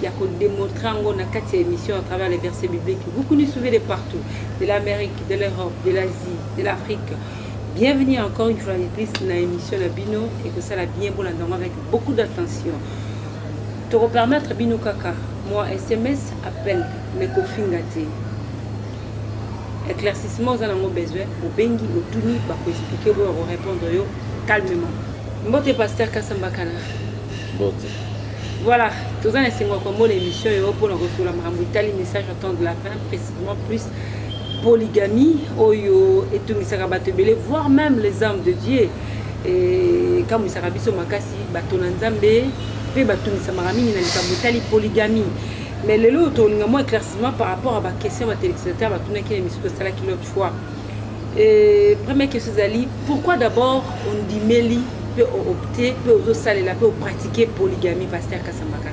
ya ko demontre yango na kati ya émission à travers les versets bibliques vous nous suivez de partout de l'amérique de l'europe de l'asie de l'afrique bienvenue encore une fois de plus na émission na bino ekosala bien bolanda yango avec beaucoup d'attention tokopermettre bino kaka mwa sms appel me kofinga te éclaircissement oza nango besoin obengi otuni bakoexplike oyo akorépondre yo calmement mbote pasteur kasambakana mbote Voilà, toza na esengo ya komona émission oyo mpo na kosolola makambo etali message en temps de lapin précisément plus polygamie oyo etungisaka bato ebele voire même les hommes de dieu ekamwisaka biso makasi bato na nzambe mpe batungisamaka mingi na likambo etali polygamie mais lelo oyo tolinga mwa éclaircissement par rapport ya baquestion ya batelecitateur batunaki na émission tosalaki l'autre fois Euh, première question ezali pourquoi d'abord ondimeli mpe oopte mpe ozosalela mpe opratike polygamie paster kasambaka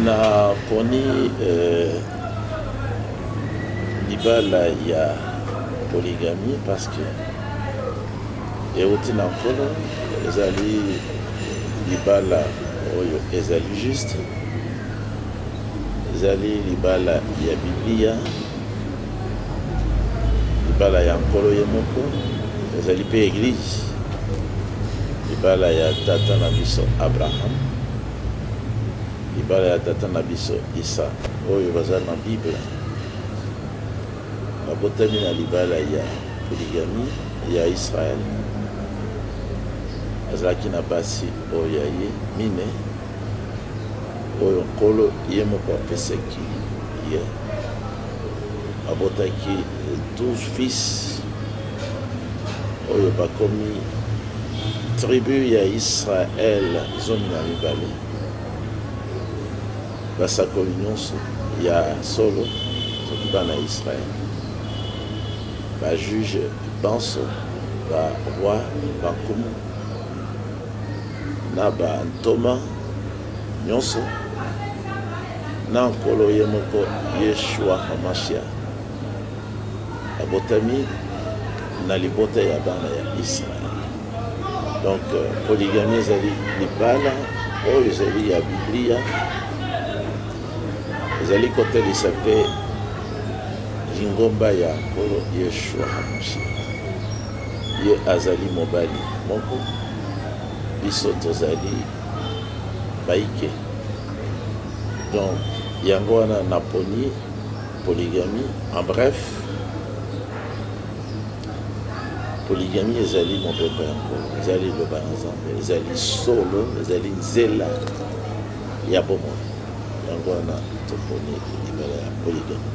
naponi euh, libala ya polygamie parce que euti na nkolo ezali libala oyo ezali juste ezali libala ya biblia libala ya nkolo ye moko ezali mpe eglize libala ya tata na biso abraham libala ya tata na biso isa oyo baza na bible babotami na libala ya poligami ya israel azalaki na basi oyo ya ye mine oyo nkolo ye moko apesaki ye yeah. abotaki 12 fils oyo bakomi tribu ya israel zomi na mibale basakoli nyonso ya solo soki bana ya israel bajuge banso baroi bankumu na bantoma nyonso na Nkolo ye moko Yeshua Hamashiach, abotami na libota ya bana ya Israel. Donc euh, poligami ezali libala oyo ezali ya Biblia, ezali kotalisa mpe lingomba ya Nkolo Yeshua Hamashiach. Ye azali mobali moko, biso tozali baike donc yango wana naponi polygamie en bref polygamie ezali mobeko ya nkolo ezali liloba na nzambe ezali solo ezali nzela ya bomoi yango wana toponi libala ya polygamie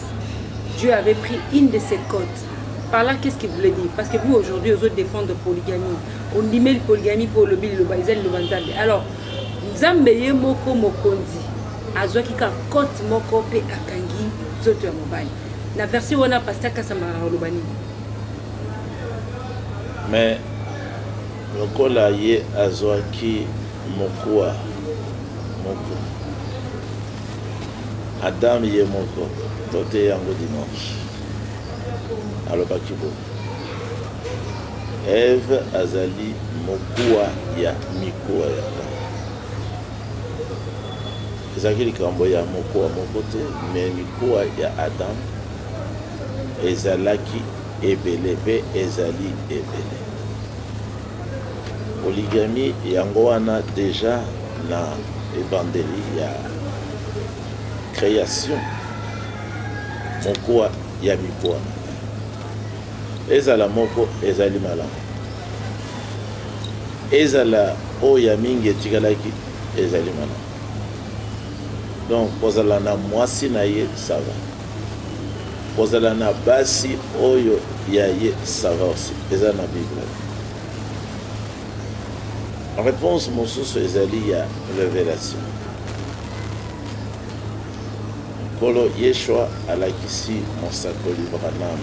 Dieu avait pris une de ses côtes. Par là, qu'est-ce qu'il voulait dire Parce que vous, aujourd'hui, vous défendre polygamie. On dit, mais polygamie pour le bil, le baïzel, le banzambe. Alors, nzambe ye moko mokonzi azwaki ka cote moko mpe akangi nzoto ya mobali na version wana pasta kasama oloba nini mais lokola ye azwaki mokuwa moko Adam ye moko, toteyi yango dimanche, alobaki boye, Eve azali mokuwa ya mikuwa ya Adam. Ezalaki likambo ya mokuwa moko te, me mikuwa ya Adam ezalaki ebele mpe ezali ebele. Polygamie yango wana dejà na ebandeli ya creation mokuwa ya mikuwa ezala moko ezali malamu ezala oyo ya mingi etikalaki ezali malamu donc kozala na mwasi na ye sava Kozala na basi oyo ya ye ça va aussi eza na bible réponse mosusu ezali ya révélation nkolo yeshua alakisi mosakoli branam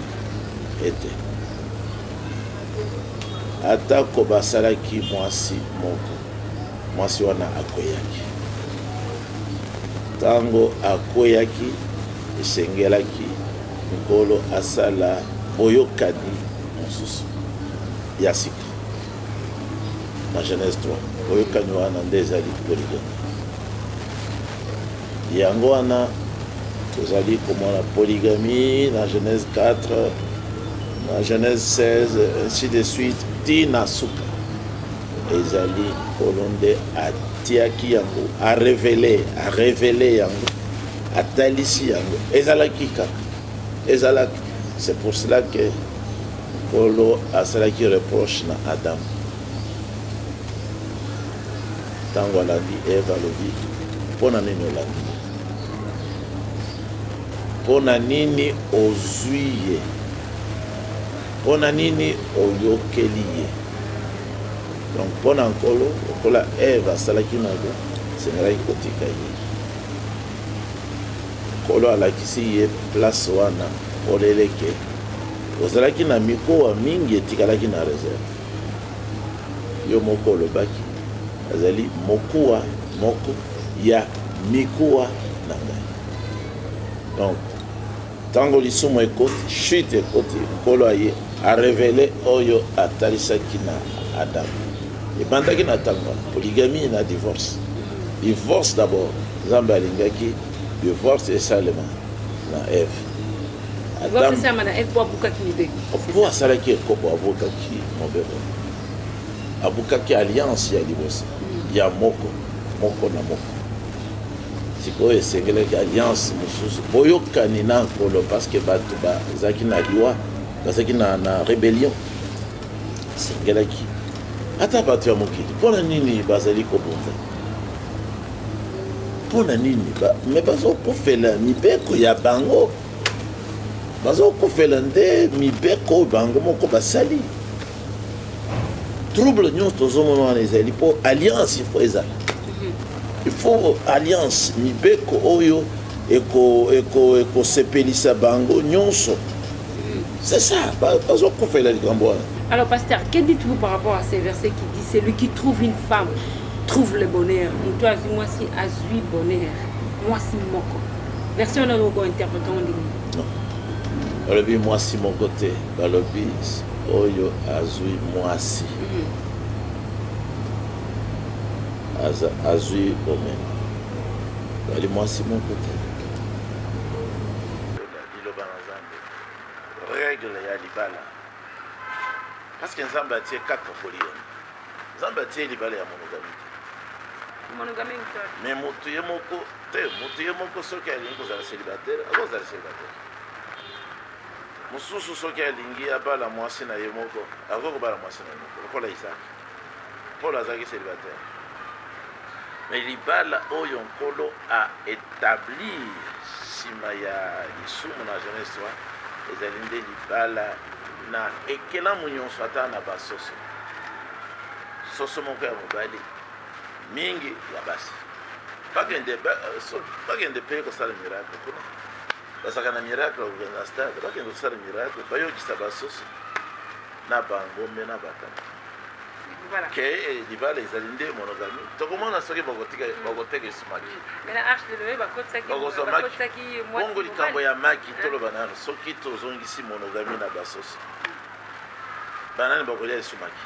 ete atako basalaki mwasi moko mwasi wana akweyaki Ntango akweyaki, esengelaki Nkolo asala boyokani mosusu ya sika na Genèse 3. Boyokani wana nde ezali poligami. Yango wana tozali komona poligami na Genèse 4 na Genèse 16 ainsi de suite ti na suka. Ezali Nkolo nde atiaki yango, a revele, a revele yango, atalisi yango. Ezalaki kaka, ezalaki. C'est pour cela que Nkolo asalaki reproche na Adam. Ntango alandi Eva alobi, mpo na nini olandi ye? Mpo na nini ozwi ye? Mpo na nini oyokeli ye? donc mpo na nkolo lokola eve asalaki mabe esengelaki kotika ye nkolo alakisi ye place wana oleleke ozalaki na mikowa mingi etikalaki na reserve yo moko olobaki azali mokuwa moko ya mikuwa na ngai donc Tango lisumu ekoti, chute ekoti, Nkolo aye a revele oyo atalisaki na Adam. Ebandaki na tango wana, polygamie na divorce. Divorce d'abord, Nzambe alingaki divorce esalema na Eve. Adam po asalaki ekobo, abukaki mobeko, abukaki alliance ya liboso ya moko moko na moko. sikoyo esengelaki alliance mosusu boyokani na nkolo parceke bato bazalaki na liwa bazalaki na, na rebellion esengelaki ata bato ya mokili mpo na nini bazali kobunda mpo na nini ba, me bazokufela mibeko ya bango bazokufela nde mibeko bango moko basali trouble nyonso tozomona wana ezali mpo alliance ifo ezala ifo alliance mibeko oyo ekosepelisa eko, eko bango nyonso c'est ça bazokufela likambo wana alors pasteur que dites-vous par rapport à ces versets qui dit celui qui trouve une femme trouve le bonheur moto azwi mwasi azwi bonheur mwasi moko version wana okointerprete ngo ndenge alobi mwasi moko te Balobi oyo azui muasi azui bomengo ezali muasi moko te. Regle ya libala parce que Nzambe atie kaka polygame. Nzambe atie libala ya monogamie mais motu ye moko te motu ye moko soki alingi kozala célibataire akozala célibataire Mosusu soki alingi abala mwasi na ye moko, akoki kobala mwasi na ye moko, lokola Isaki. Polo azalaki célibataire. Mais libala oyo Nkolo a etablir nsima ya lisumu na Genèse 3 ezali nde libala na ekelamu nyonso, ata na basoso. Soso moko ya mobali, mingi ya basi. Bakende, ba, so, bakende mpe kosala miracle kuna. bazalaka na miracle kokende na stade bakende kosala miracle bayokisa basusu na bangombe na batata ke eh, libala ezali nde monogami tokomona soki bakoteka mm. esumaki bongo likambo ya maki ah. toloba nano soki tozongisi monogami na basoso banani bakolia esumaki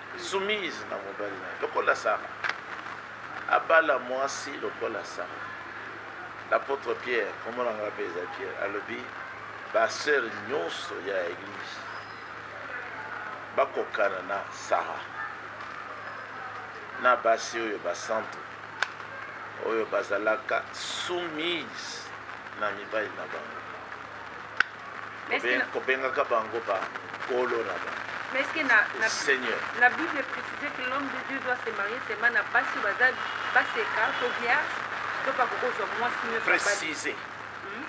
Soumise na mobali na ye lokola Sara. Abala mwasi lokola Sara. L'apôtre Pierre, kombo na ngai mpe eza Pierre, alobi ba sœur nyonso ya église bakokana na Sara na basi oyo basantu oyo bazalaka soumise na mibali na bango. Mais est-ce que Kobe- na- kobengaka bango ba kolo na ba mais est-ce que na, na, seigneur la Bible est précisée que l'homme de Dieu doit se marier seulement na basi oyo baza baseka to vierge to bakoki kozwa mwasi nyonso abali. précisé Hmm?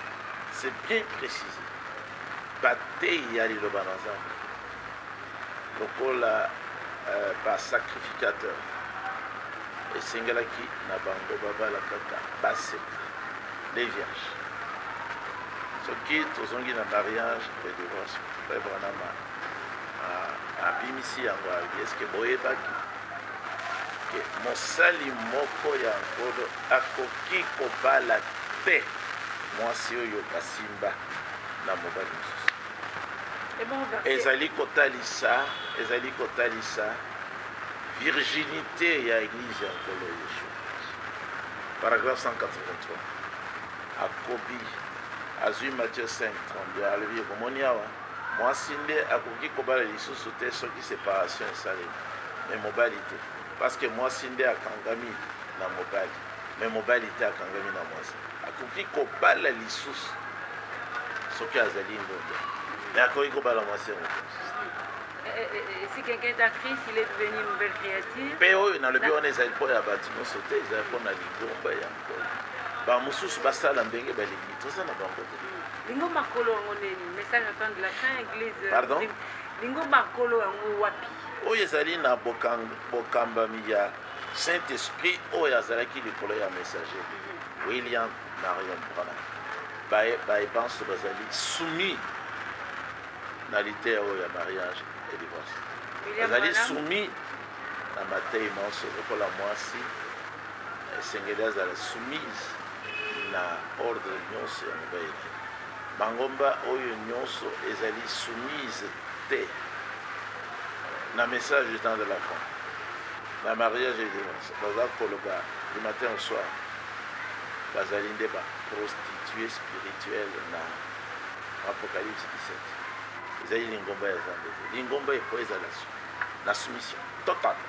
c'est bien précisé bateyi ya liloba na nzambe Lokola ba sacrificateur esengelaki na bango babala kaka basi les vierges. Soki tozongi na mariage mpe divorce, Frère Branham abimisi yango abi eske boyebaki ke mosali moko ya nkolo akoki kobala te mwasi oyo basimba na mobali mosusu ezali kotalisa ezali kotalisa virginite ya eglise ya nkolo yesu paragraphe 183 akobi azwi mathieu 5 32 alobi okomoni awa mwasi nde akoki kobala lisusu te soki separation esalemi me mobali te parce que mwasi nde akangami na mobali Mais mobali te akangami na mwasi akoki kobala lisusu soki azali ndonda mais akoki kobala mwasi yango eh, eh, eh, si quelqu'un est actrice, il est devenu une nouvelle créature. mpe oyo nalobi wana ezali mpo ya bato nyonso te ezali mpo na lingomba ya nkolo bamosusu basala ndenge balingi toza na bango te lingomba kolo yango nini message attend de la fin église euh, pardon lingomba kolo yango wapi oyo ezali na bokambami ya Saint Esprit oyo azalaki likolo ya messager William Marion Branham baye baye banso bazali soumis na liteya oyo ya mariage et divorce bazali soumis na matei manso lokola mwasi esengeli azala soumise na ordre nyonso ya mobali na ye Mangomba oyo nionso ezali soumise te na message du temps de la fin na mariage et divorce baza koloba du matin au soir bazali nde ba prostituee spirituelle na apocalypse 17 ezali lingomba ya zambe te lingomba il faut ezala na soumission totale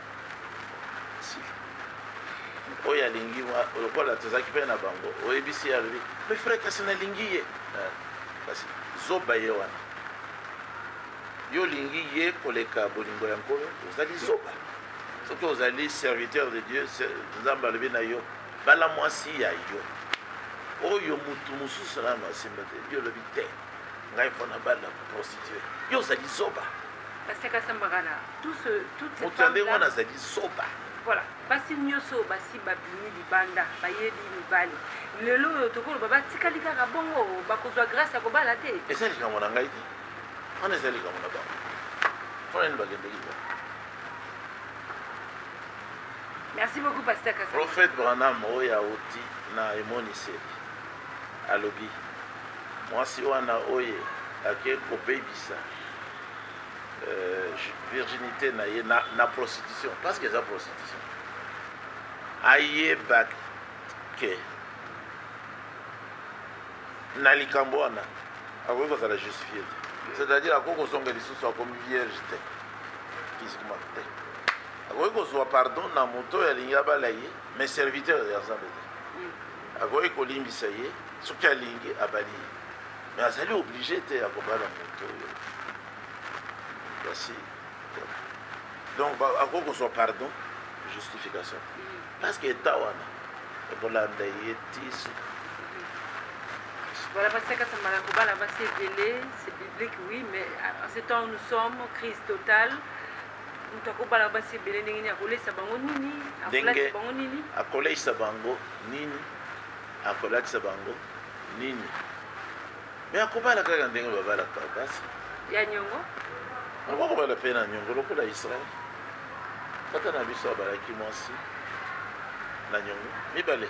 oyo alingi lokola tozalaki mpe na bango oyebisi ye alobi me frai kasi nalingi ye eh, kasi zoba ye wana yo olingi ye koleka bolingo ya nkolo ozali zoba soki ozali serviteur de dieu nzambe alobi na yo bala mwasi ya yo oyo motu mosusu nano asimba te yo olobi te ngai mpo na bala prostitue yo ozali zoba Pasteur Kassamba Gana, tout ce, toutes ces femmes là. azali soba. Voilà, basi nyoso basi babimi libanda bayebi mibali lelo oyo tokoloba batikali kaka bongo bakozwa grâce ya kobala te eza likambo na ngai te wana eza likambo na bango mpona nini bakendeki ba merci beaucoup pasteur Kassamba. prophète branham oyo auti na emoniseli alobi Mwasi wana oye ake kobebisa euh, virginite na ye na, na prostitution parce que eza prostitution ayeba ke na likambo wana akoki kozala justifie te c'est-à-dire akoki kozonga lisusu akomi vierge te physiquement te akoki kozwa pardon na moto oyo alingi abala ye mais serviteur ya nzambe te akoki kolimbisa ye soki alingi abali ye me azali oblige te ya kobala moto oyo kasi donc akoki kozwa pardon justification parce que eta wana ekolanda ye ti suka Voilà, parce que ça m'a la c'est biblique, oui, mais en ce temps où nous sommes, crise totale, moto akobala basi ebele ndenge nini akoleisa bango nini akolatisa bango nini akoleisa bango nini akolatisa bango nini me akobala kaka ndenge babalaka basi ya nyongo akokobala mpe na nyongo lokola israel tata na biso abalaki mwasi na nyongo mibale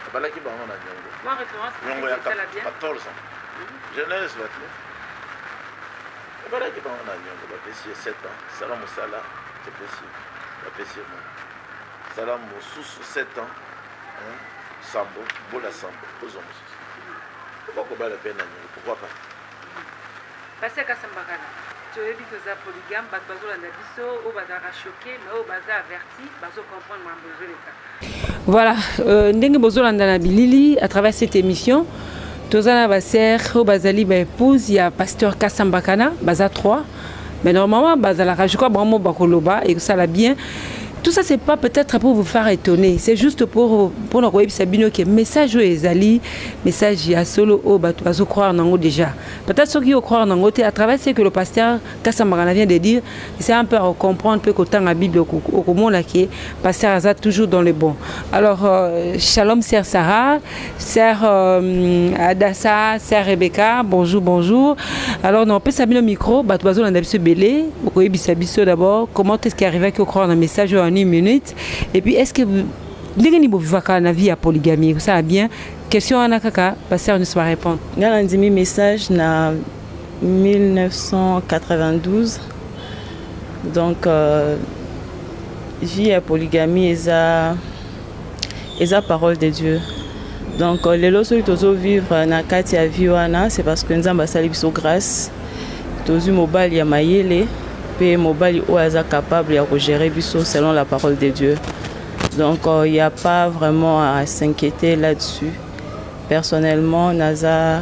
abalaki bango na nyongo nyongo ya 14 ans mhm. genèse 29 Abalaki bango na niongo, bapesi ye sept ans, sala mosala topesi yo, bapesi ye mwana, sala mosusu sept ans, sambo, bola sambo, ozwa mosusu, bakobala mpe na niongo, pourquoi pas? Pasteur Kasambakala, toyebi toza polygame, bato bazolanda biso, oyo bazalaka choquer, mais oyo baza averti. Voilà, euh, ndenge bozolanda na bilili à travers cette émission toza na baser oyo bazali baépouse ya pasteur kasambakana baza 3 mais normalement bazalaka je crois bango mo bakoloba ekosala bien tout ça c'est pas peut-être pour vous faire étonner c'est juste pour mpona koyebisa bino ke message oyo ezali message ya solo oyo bato bazocroire nango déjà peut-être soki ocroire nango te à travers ce que le pasteur Kasa Magana vient de dire, c'est un peu à comprendre peu qu'autant la Bible au comment là qui pasteur Azat toujours dans le bon. Alors euh, shalom sœur Sarah, sœur euh, Adassa, sœur Rebecca, bonjour bonjour. Alors non, on peut s'amener au micro, bah tu vas on a biso belé, au coin biso biso d'abord, comment est-ce qui arrive à croire un message en une minute et puis est-ce que ndenge ni bovivaka na vie ya polygamie kosala bien question wana kaka pasteur nyonso barépondre ngai nandimi message na 1992 donc euh, vie ya polygamie eza eza parole de dieu donc euh, lelo soki tozovivre na kati ya vie wana c'est parce que nzambe asali biso grâce tozwi mobali ya mayele mpe mobali oyo aza capable ya kogere biso selon la parole de dieu donc il euh, n'y a pas vraiment à s'inquiéter là-dessus personnellement naza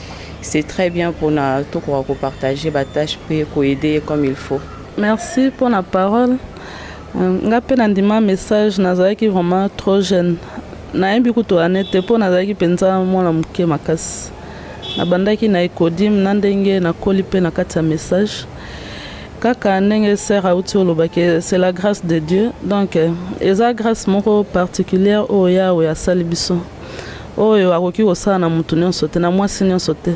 C'est très bien pour na to ko ko partager ba tâches pe ko aider comme il faut. Merci pour la parole. Euh, nga pe na ndima message nazalaki vraiment trop jeune. Nayebi kutu ane te mpo nazalaki mpenza mwana moke makasi. Nabandaki na ecodim na ndenge nakoli mpe na kati ya message. kaka ndenge sœur auti olobaki c'est la grâce de dieu donc euh, eza grâce moko particulière oyo yawe asali biso oyo akoki kosala na moto nyonso te na mwasi nyonso te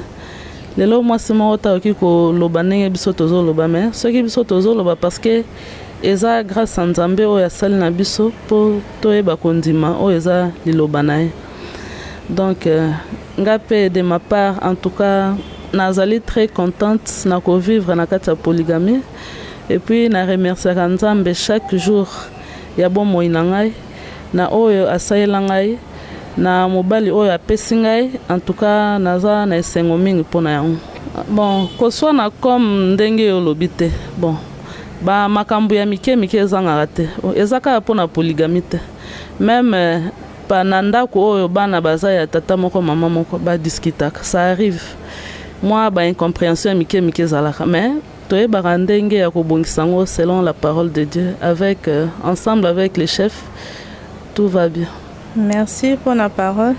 lelo mwasi moko te akoki koloba ndenge biso tozoloba me soki biso tozoloba parceke eza grâce ya nzambe oyo asali na biso mpo toyeba kondima oyo eza liloba na ye donc euh, nga mpe de ma part en tout cas nazali très contente na kovivre na kati ya polygamie epuis na remerciaka nzambe chaque jour ya bomoi na ngai na oyo asalela ngai, na mobali oyo apesi ngai, en tout cas naza na esengo mingi mpo na yango. Bon, koswana comme ndenge yo olobi te. Bon, ba makambo ya mike mike ezangaka te. Oh, eza kaka mpo na polygamie te. Meme pa na ndako oyo bana baza ya tata moko mama moko ba discutaka. Ça arrive. Mwa ba incomprehension ya mike mike ezalaka mais Toyebaka ndenge ya kobongisa yango selon la parole de Dieu avec euh, ensemble avec les chefs tout va bien. Merci pour la parole.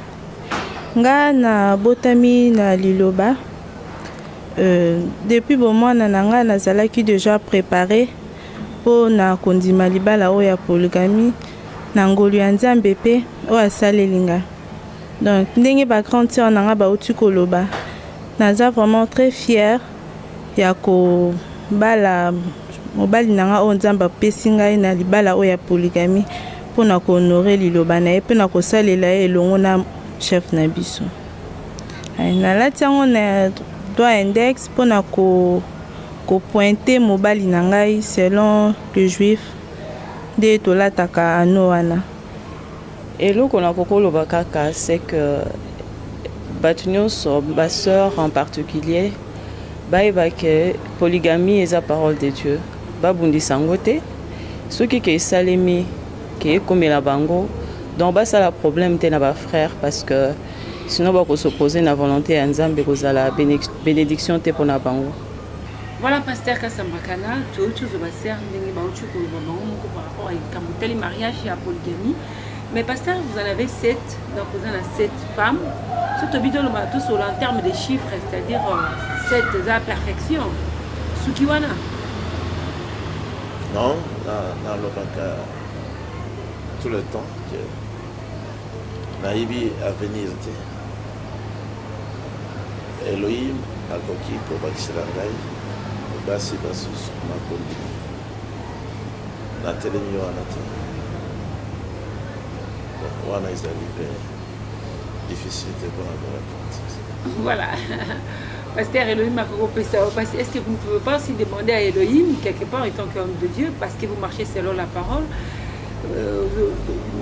Nga na botami na liloba euh, depuis bomwana na nga nazalaki déjà préparé mpo na kondima libala oyo ya polygamie na ngolu ya nzambe mpe oyo asaleli nga donc ndenge bagrande sœur na nga bauti koloba naza vraiment très fière ya kobala mobali na ngai oyo Nzambe apesi ngai na libala oyo ya poligami mpo na kohonore liloba na ye mpe na kosalela ye elongo na chef na biso. Nalati yango na doigt index mpo na ko kopointe mobali na ngai selon le juif nde tolataka ano wana Eloko na kokoloba kaka c'est que bato nyonso ba sœurs en particulier bayeba ke polygamie eza parole de Dieu babundisa yango te soki ke esalemi ke ekomela bango donc basala problème te na ba frères parce que sinon bakosopose na volonté ya Nzambe ekozala bénédiction te mpo na bango Voilà pasteur Kasambakana, touti ozoba sœur ndenge bauti koloba bango moko par rapport à likambo tali mariage ya polygamie. Mais pasteur, vous en avez 7, donc vous en avez 7 femmes. Ce que bidon ba tous sur en termes de chiffres, c'est-à-dire 7 euh, de la perfection. Sukiwana. Non, dans le cas tout le temps que Naïbi a venu Elohim akoki kobakisela ngai basi basusu? Nakondima. Natelemi wana te. Bon, wana ezali mpe difficile te mpona korepondre. Voilà. Pasteur Elohim parce est-ce que vous ne pouvez pas aussi demander à Elohim, quelque part, étant qu'homme de Dieu, parce que vous marchez selon la parole, euh,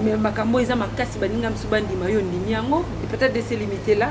mais makambo eza makasi baninga misu bandima yo ndimi yango peut-être de se limiter là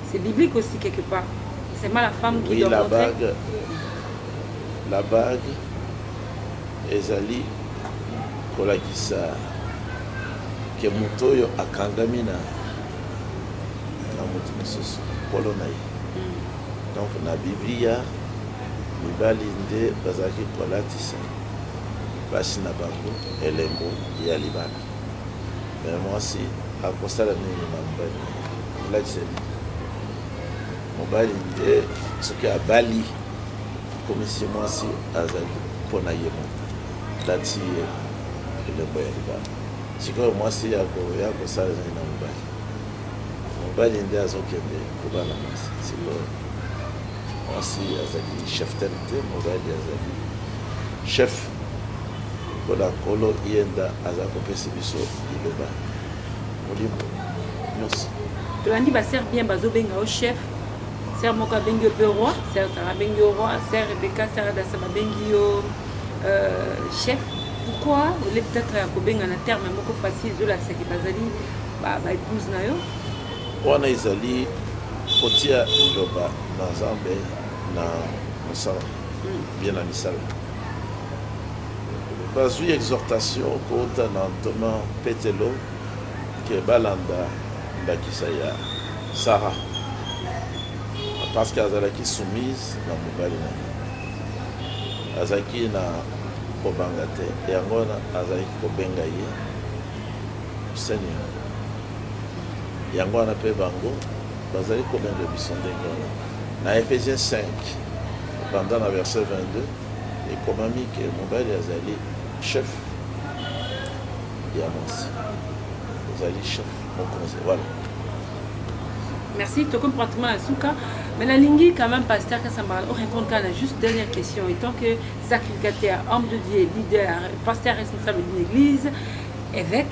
C'est biblique aussi quelque part. C'est pas la femme qui oui, doit la montrer. Bague, la bague ezali kolakisa ke moto oyo akangami na na moto mosusu nkolo na ye hmm. donc na biblia mibali nde bazalaki kolatisa basi na bango elembo ya libala mais mwasi akosala nini na mobali olakisa mobali nde soki abali komisi mwasi azali mpo na ye moko lati ye elembo ya libala sikoyo mwasi akoya kosala nini na mobali mobali nde azokende kobala mwasi sikoyo mwasi azali chef tene te mobali azali chef Lokola Nkolo ye nda aza kopesi biso liloba molimo nyonso. Tolandi ba sœurs bien bazo benga yo chef. Sœur moko abengi yo pe roi, sœur Sarah abengi yo roi, sœur Rebecca, sœur Adassa babengi yo euh, chef. Pourquoi ole peut-être ya kobenga na terme moko facile ezolakisa ke bazali ba ba épouse na yo? Wana ezali kotia liloba na Nzambe na mosala bien na misala. Bazui exhortation kouta na ntoma Petelo ke balanda ndakisa ya Sara parce que azalaki soumise na mobali na ye, azalaki na kobanga te, yango wana azalaki kobenga ye Seigneur. Yango wana mpe bango bazali kobenga biso ndenge wana. Na Efesiens 5, banda na verse 22, ekomami ke mobali azali chef ya mwasi, azali chef mokonzi. Voilà. Merci, tokomi pratiquement à Souka. Mais la lingi, quand même, pasteur Kassamara, on répond à la juste dernière question. Et tant que sacrificateur, homme de Dieu, leader, pasteur responsable d'une église, évêque,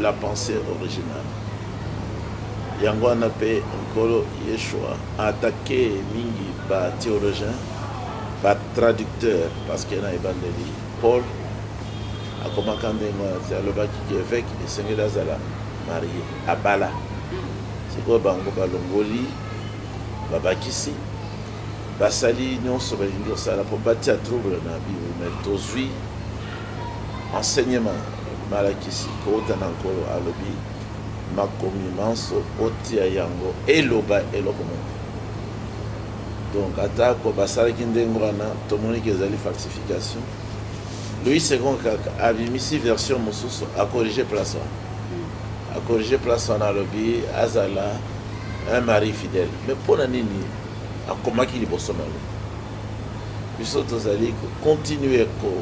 La pensee originale. Yango wana pe Nkolo Yeshua a attaquer mingi ba theologiens, ba traducteurs, parce que na ebandeli Paul akomaka ndenge wana te, alobaki que eveque esengeli azala marie, abala. Sikoyo bango balongoli, babakisi, basali nionso balingi kosala po batia trouble na Bible, mais tozui Enseignement malakisi kouta na Nkolo alobi, makomi manso otia yango eloba eloko moko. Donc atako basalaki ndenge wana, tomoni ke ezali falsification. Louis Second kaka abimisi version mosusu, akorige place wana, hmm. akorige place wana, alobi azala un mari fidèle. Mais mpo na nini akomaki liboso na yango? biso tozali ko continuer ko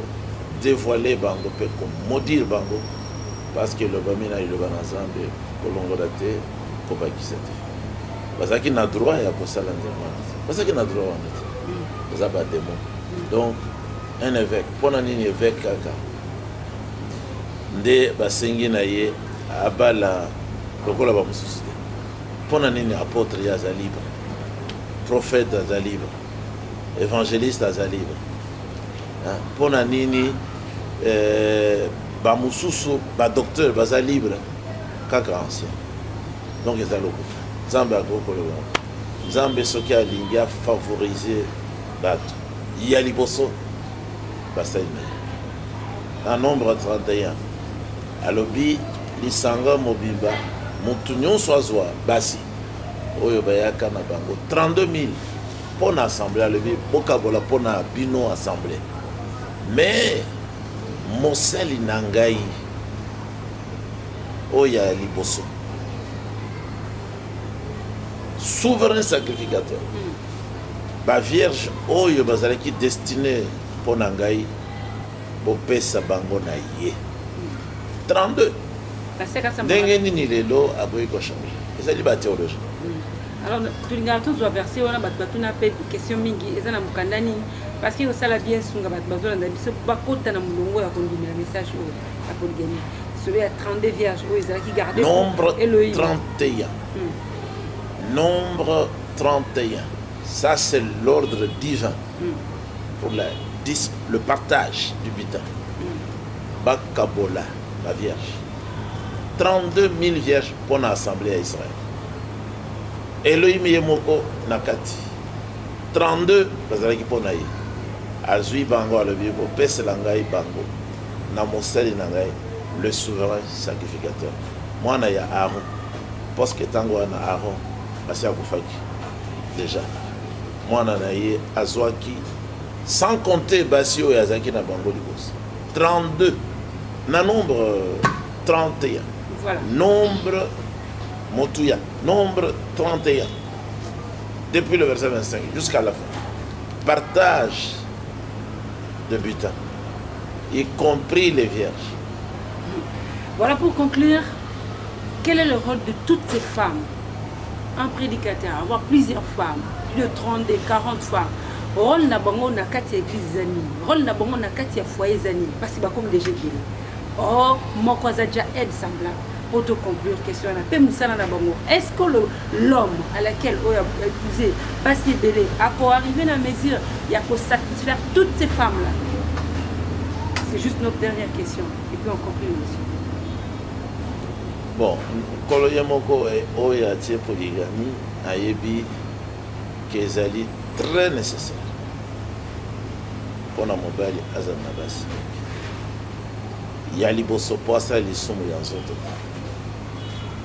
devoiler bango mpe ko maudire bango parce que elobami na liloba na nzambe kolongola te kobakisa te bazalaki na droit ya kosala ndenge wana te bazalaki na droit wana te baza bademo donc un évêque mpo na nini évêque kaka nde basengi na ye abala lokola bamosusu te mpo na nini apotre ye aza libre prophète aza libre evangeliste aza libre mpo na nini eh, bamosusu badocteur baza libre kaka ancien donc eza lokuta nzambe akoki koloba nzambe soki alingi afavorize bato ya liboso basali na ye na nombre 31 alobi lisanga mobimba moto nyonso azwa basi oyo bayaka na bango 32000 mpo na assemble alobi bokabola mpo na bino assemble mais mosali na ngai oyo ya liboso souverain sacrificateur hmm. bavierge oyo bazalaki destine mpo na ngai bopesa bango na ye 32 ndenge nini lelo akoki kochange ezali batheologie alors tolingaka tozwa verse wana bato batuna mpe question mingi eza na mokanda nini parce que kosala bien sunga bato bazolanda biso bakota na molongo ya kondimela message oyo ya polygami solo ya 32 vierge oyo ezalaki garde nombre 31 nombre 31 ça c'est l'ordre divin mm. pour la dis, le partage du butin bakabola ba vierge 32 000 vierges mpo na assemblée ya israel elohim ye moko na kati 32 bazalaki mpo na ye azwi bango alobi kopesela ngai bango na mosali na ngai le souverain sacrificateur mwana ya aron parce que ntango wana aron asi akufaki déjà mwana na ye azwaki sans compter basi oyo azalaki na bango liboso 32 na nombre 31 voilà. nombre motuya nombre 31 depuis le verset 25 jusqu'à la fin partage de butin y compris les vierges voilà pour conclure quel est le rôle de toutes ces femmes un prédicateur avoir plusieurs femmes plus de 32 40 femmes role na bango na kati ya église eza nini role na bango na kati ya foyer eza nini basi bakomi deja ebele or moko aza deja aide semblable mpo to conclure question wana mpe mosala na bango est ce que l'homme à laquelle oyo épouse basi ebele akoarrive na mesure ya kosatisfaire toutes ces femmes là c'est juste notre dernière question et puis on conclut monsieur Bon nkolo ye moko oyo atie polygamie ayebi ke ezali très necessaire pona mobali azala na basi ya liboso po asala lisumu ya nzoto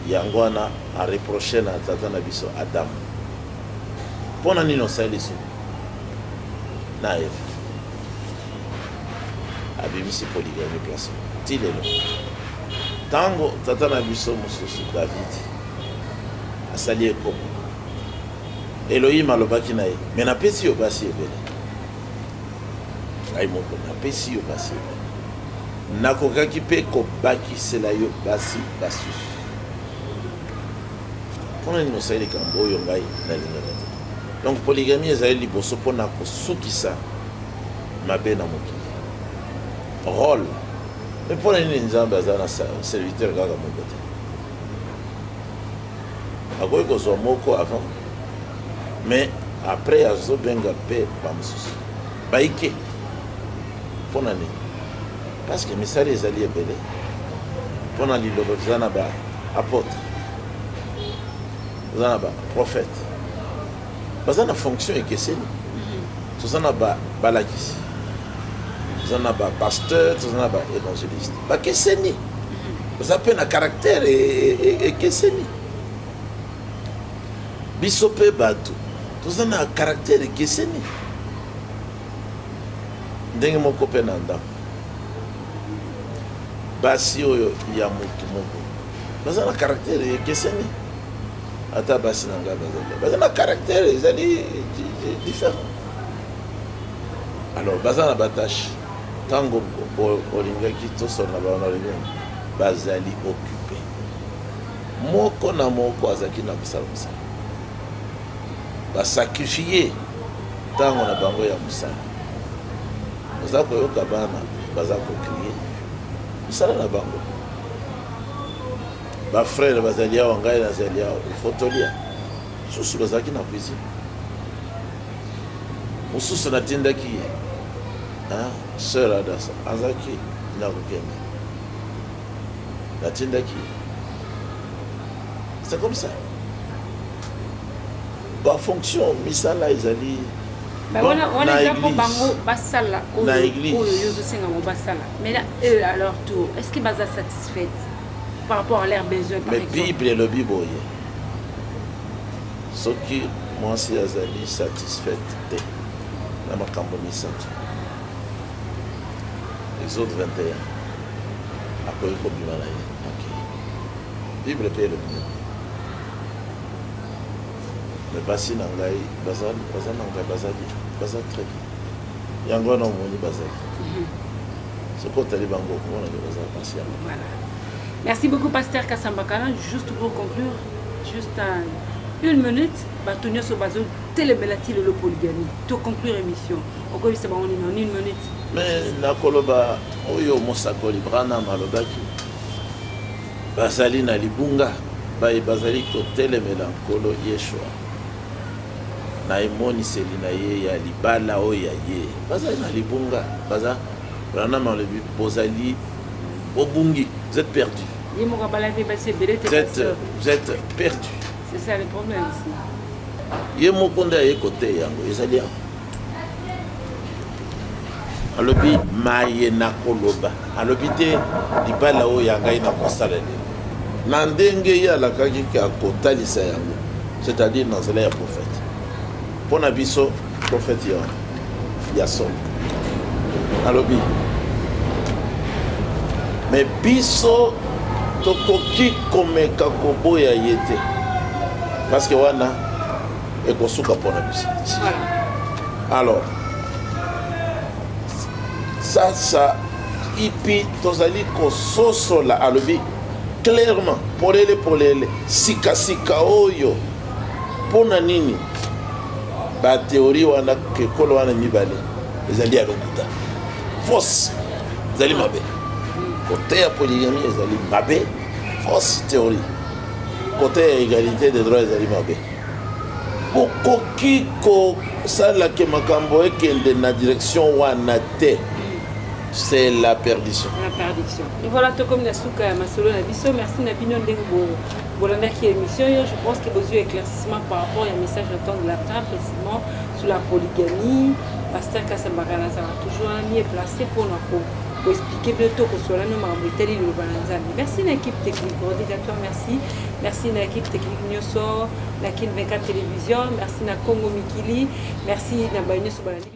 yango wana areproche na tata na biso adamu mpo na nini osali lisumu na eva abimisi poligami place ti lelo ntango tata na biso mosusu davidi asali ekomo elohim alobaki na ye me napesi yo basi ebele ngai moko napesi yo basi ebele nakokaki mpe kobakisela yo basi basusu mpo na nini osali likambo oyo ngai nalingaka te Donc polygamie ezali liboso mpo na kosukisa mabe na mokili role me mpo na nini nzambe aza na serviteur kaka moko te akoki kozwa moko avant mais après azobenga mpe bamosusu baike mpo na nini parce que misala ezali ebele mpo na liloba toza na baapotre toza na baprofete baza na fonction ekeseni mhm. toza na balakisi toza na bapasteur toza na baévangéliste bakeseni mhm. baza mpe na caractère e, e, e, ekeseni biso mpe bato toza na caractère ekeseni ndenge moko mpe na ndako basi oyo ya motu moko baza na caractère ekeseni ata basi na ngai baza na caractère ezali différent alors baza na batache ntango olingaki tosona baona olingaki bazali occupé moko na moko azalaki na kosala mosala basakrifie ntango na bango ya mosala oza koyoka bana baza kokrie misala na bango bafrere bazali awa ngai nazali awa ifotolia mosusu bazalaki na cuisine mosusu natindaki ye sœur adasa azalaki na kokende natindaki ye c'est comme ça bafonction misala ezali na église Mais là, eux, à leur tour, est-ce qu'ils sont satisfaits par rapport à leurs besoins par Mais exemple? Bible elobi boye. Soki mwasi azali satisfaite te na makambo misato. Exode 21. Akoki kobima na ye. Okay. Bible mpe elobi nini? Mais basi na ngai baza baza na ngai baza bien. Baza très bien. yango wana omoni bazali soki otali bango okomona nde bazala basi yango merci beaucoup pasteur kasambakala juste pour conclure juste un, une minute bato nyonso bazotelemela ti lelo polygami to conclure émission okoyebisa bango nini en une minute mais nakoloba oyo mosakoli branam alobaki bazali na libunga baye bazali kotelemela nkolo yeshua na emoniseli na ye ya libala oyo ya ye bazali na libunga baza branam alobi bozali bobungi vous êtes perdu vous êtes, vous êtes perdu c'est ça le problème ye moko nde aye koteya yango ezali yango alobi maye nakoloba alobi te libala oyo ya ngai nakosala lelo na ndenge ye alakaki ke akotalisa yango c'est-à-dire na nzela ya prophète mpo na biso prophète ya ya solo alobi me biso tokoki komeka koboya ye te parce que wana ekosuka mpo na biso alors sasa ipi tozali kososola alobi clairement polele polele sikasika oyo mpo na nini bateori wana ekolo wana mibale ezali ya lokuta fausse ezali mabe koteya poligami ezali mabe fausse théorie koteya égalité des droits ezali mabe Bokoki kosala que makambo ekende na direction wana te. C'est la perdition. La perdition. Et voilà, tout comme la souka ya masolo na biso, merci na bino ndenge bo bolandaki émission yo, je pense que bozui éclaircissement par rapport ya message na temps de la fin précisément sur la polygamie. Pasteur Kasambara nazala toujours mieux placé pour na ko koexplike bino to kosola no makambo etali liloba na nzambe merci na équipe technique rodigatoire merci Merci na équipe technique nyoso, na Kin 24 Télévision, merci na Congo Mikili, merci na bayo nyoso balandi.